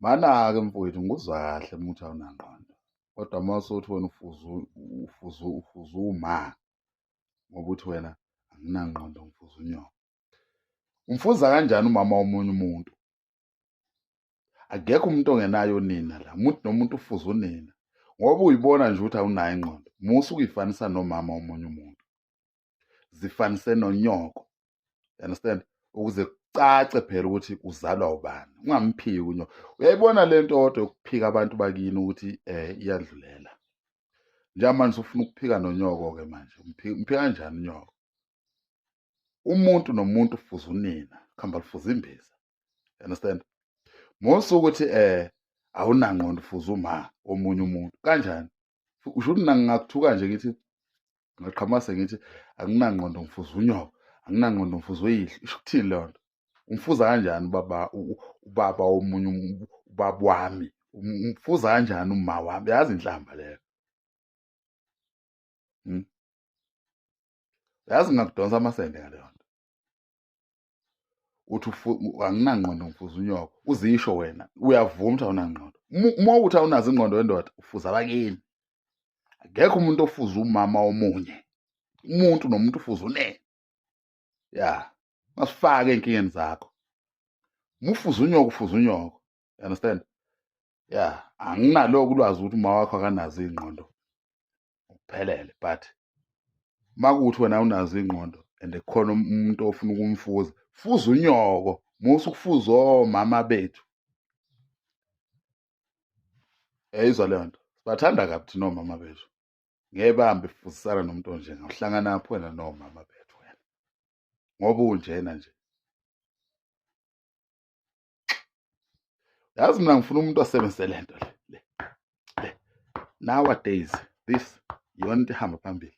Manake mfowethu ngikuzwa kahle uma uthi awunangqondo. Kodwa uma usuthi wena ufuzu ufuzu ufuzu uma ngoba uthi wena anginangqondo ngifuza unyoko. Umfuza kanjani umama womunye umuntu? Akekho umuntu ongenayo unina la. Umuntu nomuntu ufuza unina. Ngoba uyibona nje ukuthi awunayo ingqondo. Musa ukuyifanisa nomama womunye umuntu. zifanise nonyoko you understand ukuze kucace phela ukuthi uzalwa ubani ungamphiki unyoko uyayibona le nto kodwa yokuphika abantu bakini ukuthi um iyadlulela njengamanje usufuna ukuphika nonyoko-ke manje umphika kanjani unyoko umuntu nomuntu ufuza unina kuhamba lufuza imbiza you understand mose ukuthi um awunangqondo ufuza uma omunye umuntu kanjani usho ukuthi mina ngingakuthuka nje ngithi ngaqhamase ngithi anginangqondo ngifuza unyoka anginangqondo ngifuza uyihlo isho ukuthini leyo nto umfuza kanjani ubaba ubaba womunye ubaba wami umfuza kanjani uma wami yazi inhlamba leyo hmm? yazi ngingakudonsa amasende ngaleyo nto uthi anginangqondo ngifuza unyoko uzisho wena uyavuma ukuthi awunangqondo uma ukuthi awunazo ingqondo wendoda ufuza abakini akekho umuntu ofuza umama omunye umuntu nomuntu ufuza unene ya masifake ey'nkingeni zakho uma ufuza unyoko ufuza unyoko you understand ya anginaloko ulwazi ukuthi uma wakho akanazo iy'ngqondo uphelele but uma kuwuthi wena unazo iy'ngqondo and khona um-, umuntu ofuna ukumfuza fuza unyoko musa ukufuza omama bethu eyizwa leyo nto sibathanda kabi thina omama bethu ngeke bambe fuzisana nomuntu onjenga uhlangana apho wena nomama bethu wena ngoba unjena nje yazi mina ngifuna umuntu asebenzise le nto le le le nowadays this yona into ihamba phambili